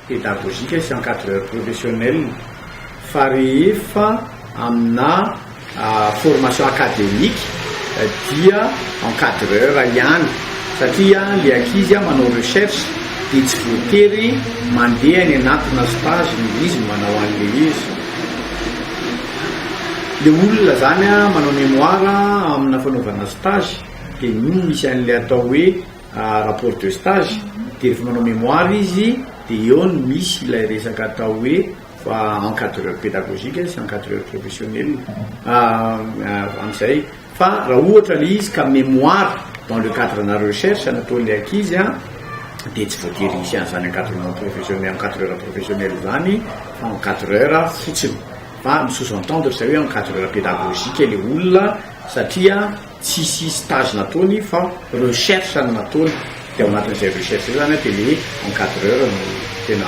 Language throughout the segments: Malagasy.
pédagogique sy encadreur professionnel fa rehefa amina formation academique dia encadreur ihany satria le ankizy manao recherche dia tsy voatery mandeha any anatina stage ny izy manao an'le izy le olona zany manao mémoire amina fanaovana stage dia iny misy an'le atao hoe rapport de stage dia rehefa manao mémoire izy dia eo no misy ilay resaka atao hoe encadreur pédagogique sy encadreur professionnel amin'izay fa raha ohatra ilay izy ka mémoire dans le cadre na recherche nataon'ilay ankizy a dia tsy voatery hisy an'izany encadrement professionnel encadreur professionnel izany fa encadreur fotsiny fa mi-sous-entendre izay hoe encadreur pédagogique ilay olona satria Tsisy stage nataony fa recherche no nataony de ao anatin'izay recherche zay zany de le encadreur no tena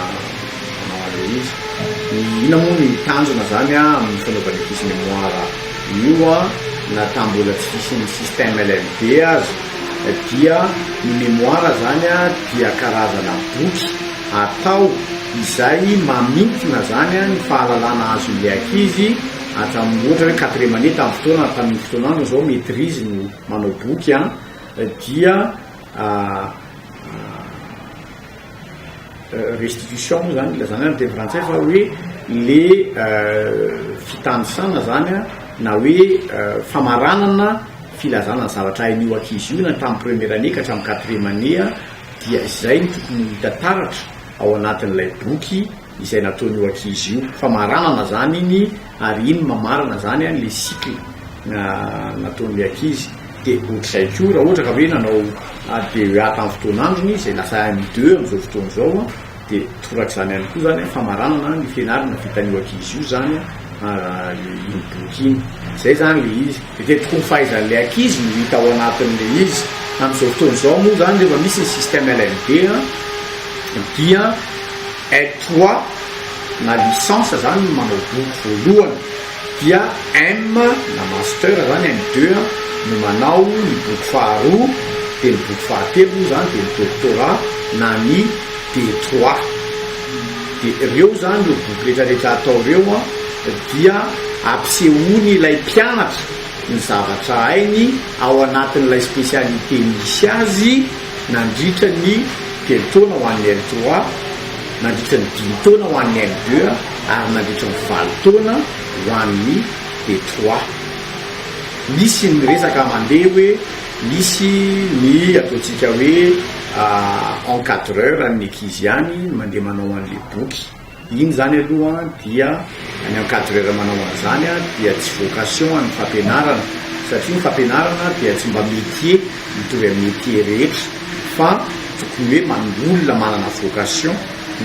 manao anle izy. Inona moa ny tanjona zany amin'ny fanaovana ity sy memoire io na tam bola tsy hisy ny système LMD aza dia ny memoire zany dia karazana boky atao izay mamintina zany ny fahalalana azon'ilay ankizy hatramin'ny ohatra hoe quatrième année tamin'ny fotoana ary tamin'iny fotoana any izao maîtrise no manao boky an dia restitution moa zany ilazana ny teny frantsay fa hoe le fitanisana zany an na hoe famaranana filazana ny zavatra hain'io ankizy io na tamin'ny première année ka hatramin'ny quatrième année dia izay no tokony ho hita taratra ao anatin'ilay boky izay nataon io ankizy io fa maranana zany iny ary iny mamarana zany an le cycle nataon le ankizy de otrzay ko ra ohatra ka hoe nanao DEA tam fotoan androny izy lasa M2 am zao fotoan zao an de torak'zany ihany ko zany an fa maranana ny fianarana vitan io ankizy io zany an. iny boky iny. Izay izany ilay izy. Dia dia tokony fahaizan'ilay ankizy no hita ao anatin'ilay izy. Amin'izao fotoana izao moa izany rehefa misy ny système LLB dia L trois na licence izany no manao boky voalohany dia M na master izany M deux no manao ny boky faharoa dia ny boky fahatelo moa izany dia ny doctorat na ny D trois. Dia ireo izany, ireo boky rehetra rehetra atao ireo dia ampisehoany ilay mpianatra ny zavatra hainy ao anatin'ilay spécialité misy azy nandritra ny telo taona ho an'ny L trois, nandritra ny dimy taona ho an'ny L deux ary nandritra ny valo taona ho an'ny D trois. Misy ny resaka mandeha hoe. Misy ny ataontsika hoe encadreur an'ny ankizy ihany no mandeha manao an'ilay boky. Iny izany aloha dia ny encadreur manao an'izany dia tsy vocation an'ny fampianarana satria ny fampianarana dia tsy mba métier mitovy amin'ny métier rehetra fa tokony hoe olona manana vocation.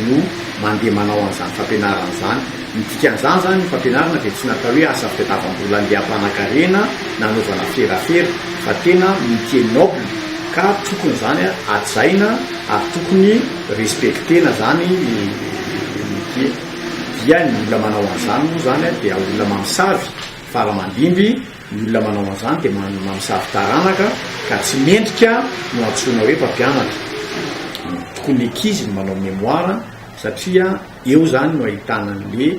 no mandeha manao an'izany fampianarana izany. Ny dikan'izany izany, ny fampianarana dia tsy natao hoe asa fitadiavam-bola andiam-panankarena na anaovana ferafera, fa tena métier noble, ka tokony izany hajaina ary tokony respecter-na izany ny métier. Dia ny olona manao an'izany moa izany dia olona mamosavy, faramandimby, Ny olona manao an'izany dia mamosavy taranaka ka tsy mendrika no antsoina hoe mpampianatra. Tokony ny ankizy no manao memoire satria eo izany no ahitana an'ilay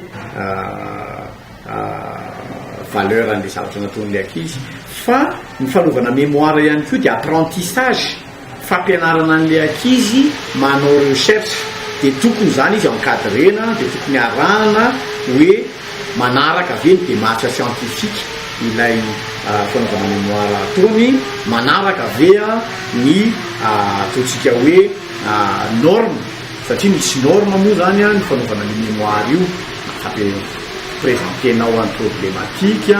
valeur an'ilay zavatra nataon'ilay ankizy fa ny fanaovana memoire ihany koa dia apprentissage. fampianarana an'ilay ankizy manao recherche dia tokony izany izy encadrena dia tokony arahana hoe manaraka ve ny démarche scientifique ilay fanaovana mémoire ataony, manaraka ve ny ataontsika hoe norme satria misy norme moa izany ny fanaovana ny mémoire io, na fampirevantenao an'ny problematique.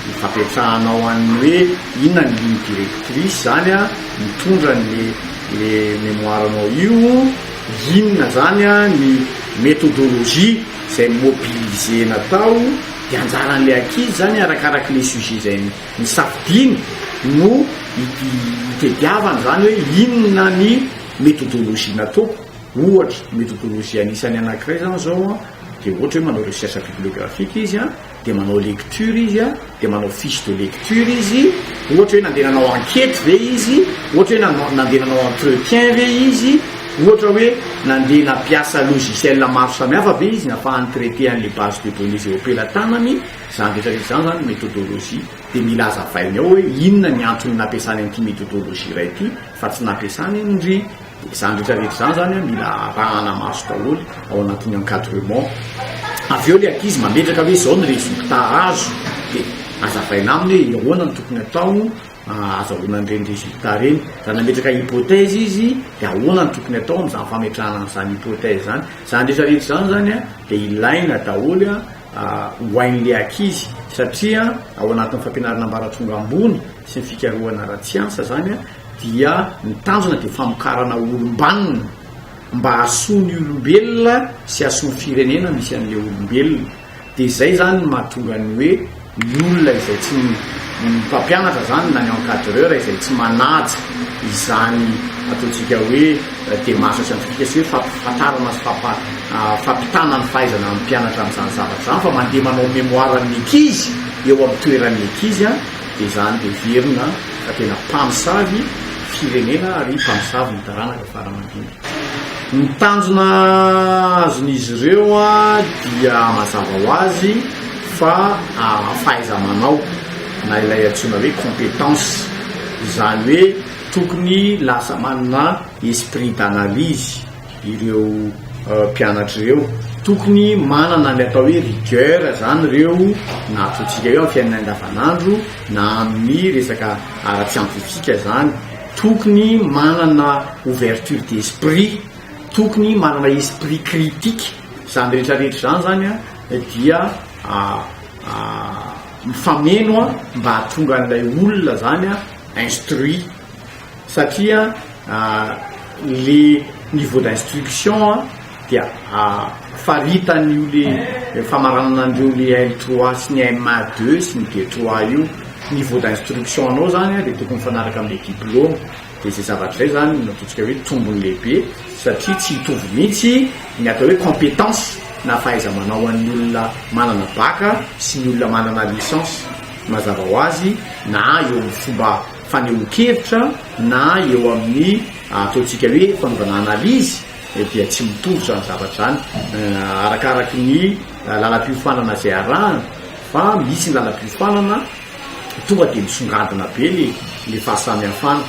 Ny fampiantrahana ho an'ny hoe inona ny ligne directrice zany an, mitondra ny le mémoire nao io, inona zany an ny méthodologie zay mobiliser-na tao, de anjaran'le ankizy zany arakaraky le sujet zay nisafidiany no itediavany zany hoe inona ny méthodologie nataoko, ohatra méthodologie anisany anakiray zany zao an de ohatra hoe manao recherche bibliographique izy an, dia manao lecture izy a, dia manao fiche de lecture izy, ohatra hoe nandeha nanao enquête ve izy, ohatra hoe nanao nandeha nanao entretien ve izy, ohatra hoe nandeha nampiasa logiciel maro samihafa ve izy nafahany traiter an'le base de données zay ompelatanany, zany rehetra rehetra zany zany méthodologie, dia mila azavainy ao hoe inona ny antony nampiasany an'ity méthodologie iray ity fa tsy nampiasany an'ndry. Izany rehetra rehetra izany zany hoe mila arahana maso daholo ao anatin'ny encadrement. Avy eo ilay ankizy mametraka hoe izao ny résultat azo dia azavaina aminy hoe ahoana no tokony atao ahazahoana an'ireny résultat ireny. Raha nametraka hypothèse izy dia ahoana no tokony atao amin'izany fametrahana an'izany hypothèse izany. Izany rehetra rehetra izany zany dia ilaina daholo ho hain'ilay ankizy satria ao anatin'ny fampianarana ambaratonga ambony sy ny fikarohana ara-tsiansa izany dia ny tanjona dia famokarana olom-banona mba hahasoa ny olombelona sy hahasoa ny firenena misy an'ilay olombelona, dia izay izany no mahatonga ny hoe ny olona izay tsy, ny mpampianatra izany na ny encadreur izay tsy manaja izany ataontsika hoe démarche scientifique sy hoe fampifantarana sy fampitana ny fahaizana ny mpianatra amin'izany zavatra izany fa mandeha manao mémoire ny ankizy eo amin'ny toeran'ny ankizy an! Dia izany heverina fa tena mpamosavy firenena ary mpamosavy ny taranaka farany indrindra. Ny tanjona azon'izy ireo dia mazava ho azy fa fahaiza-manao na ilay antsoina hoe compétence. Izany hoe tokony lasa manana esprit d'analyse. ireo mpianatra ireo. Tokony manana ilay atao hoe rigueur izany ireo na ampiantsika eo amin'ny fiainana andavanandro na amin'ny resaka ara-tsiantifika izany. Tokony manana ouverture d'esprit, tokony manana esprit critique. Izany rehetra rehetra izany izany an dia mifameno mba hahatonga an'ilay olona izany an instruit. Satria le niveau d'instruction dia faritan'io le famaranana an'ireo le L trois sy ny MA deux sy ny D trois io. Niveau d'instruction anao zany dia tokony mifanaraka amle diploma. Dia zay zavatra zay zany no ataontsika hoe tombony lehibe satria tsy hitovy mihitsy ny atao hoe compétence na fahaiza-manao an'ny olona manana bac sy ny olona manana licence mazava ho azy na eo amin'ny fomba fanehoan-kevitra na eo amin'ny ataontsika hoe fanaovana analyse dia tsy mitovy izany zavatra izany arakaraky ny lalam-piofanana izay arahana fa misy ny lalam-piofanana tonga dia misongadina be le le fahasamihafana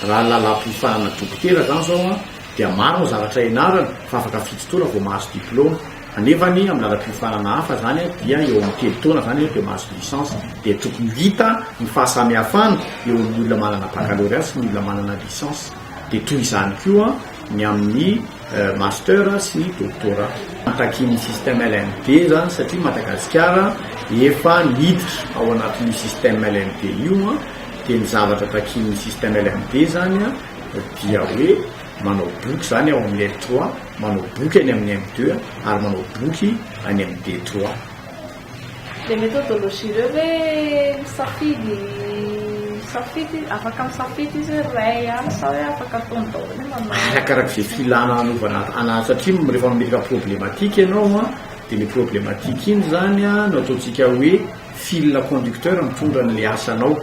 raha ny lalam-piofanana dokotera izany izao dia maro ny zavatra ianarana fa afaka fito taona vao mahazo diplaoma Anefany amina ara-piofanana hafa zany dia eo amin'ny telo taona zany dia mahazo licence dia tokony ho hita ny fahasamihafana eo amin'ny olona manana baccalauréat sy ny olona manana licence dia toy izany koa ny amin'ny master sy ny doctorat. Takian'ny système LMD zany satria Madagasikara efa niditra ao anatin'io système LMD io dia ny zavatra takian'ny système LMD zany dia hoe manao boky zany ao amin'ny L3 manao boky any amin'ny M deux ary manao boky any amin'ny D trois. Le methodologie reo hoe misafidy misafidy afaka misafidy izy hoe ray ihany sa hoe afaka ataony daholo hoe manao Arakaraka izay filana hanaovana ana satria m- rehefa mametraka problematika ianao a dia ny problematika iny izany a no ataontsika hoe fil conducteur mitondra an'ilay asanao.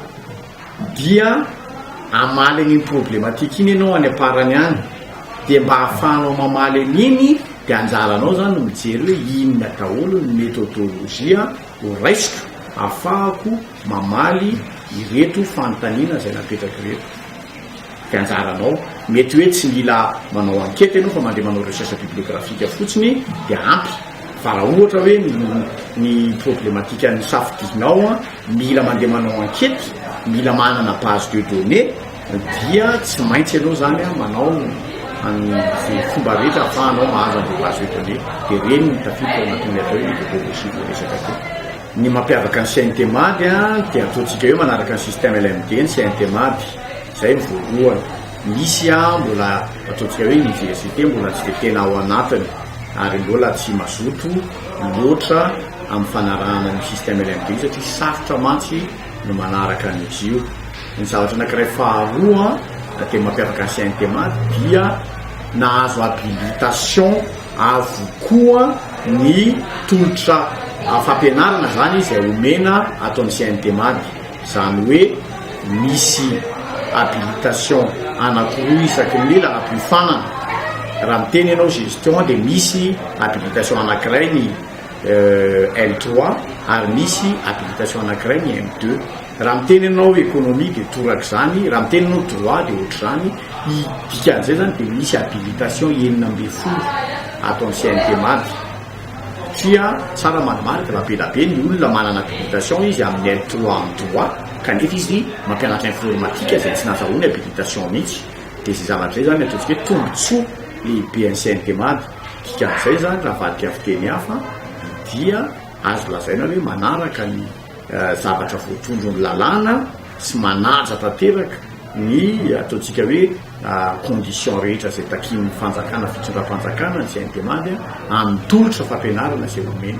Dia hamaly an'iny problematika iny ianao any am-parany any, dia mba ahafahanao mamaly an'iny dia anjaranao izany no mijery hoe inona daholo ny methodologie ho raisiko ahafahako mamaly ireto fanontaniana izay napetrak'ireto. dia anjaranao. Mety hoe tsy mila manao enquête ianao fa mandeha manao recherche bibliographique fotsiny dia ampy. Fa raha ohatra hoe ny problematikan'ny safidianao mila mandeha manao enquête, mila manana base de données dia tsy maintsy ianao izany manao an'izay fomba rehetra ahafahanao mahazo an'ilay base de données. Dia ireny no tafiditra ao anatin'ilay atao hoe methodologie voaresaka teo. Ny mampiavaka ny CNTMAD dia ataontsika eo manaraka ny système LMD ny CNTMAD. Izay ny voalohany. Misy mbola ataontsika hoe université mbola tsy dia tena ao anatiny ary mbola tsy mazoto loatra amin'ny fanarahana ny système LMD io satria sarotra mantsy ny manaraka an'izy io. Ny zavatra anankiray faharoa dia mampiavaka ny CNTMAD dia nahazo habilitation. avokoa ny tolotra fampianarana zany izay omena ato amin'ny CNTMAD, izany hoe misy habilitation anakiroa isaky ny lela hampiofanana, raha miteny ianao gestion dia misy habilitation anakiray ny L3 ary misy habilitation anakiray ny M2. Raha miteny ianao economie dia toraka izany, raha miteny ianao droit dia ohatr'izany, ny dikan'izay izany dia misy habilitation enina ambin'ny folo ato amin'ny CNTMAD satria tsara manamarika fa be dia be ny olona manana habilitation izy amin'ny L trois amin'ny droit kanefa izy mampianatra informatique izay tsy nahazahoany habilitation mihitsy dia izay zavatra izay izany ataontsika hoe tombotsoa lehibe an'ny CNTMAD, dikan'izay izany raha avadika amin'ny fiteny hafa dia azo lazaina hoe manaraka ny. zavatra voatondron'ny lalàna sy manaja tanteraka ny ataontsika hoe conditions rehetra izay takian'ny fanjakana, fitondram-panjakana, ny CNDMAD, amin'ny tolotra fampianarana izay omeny.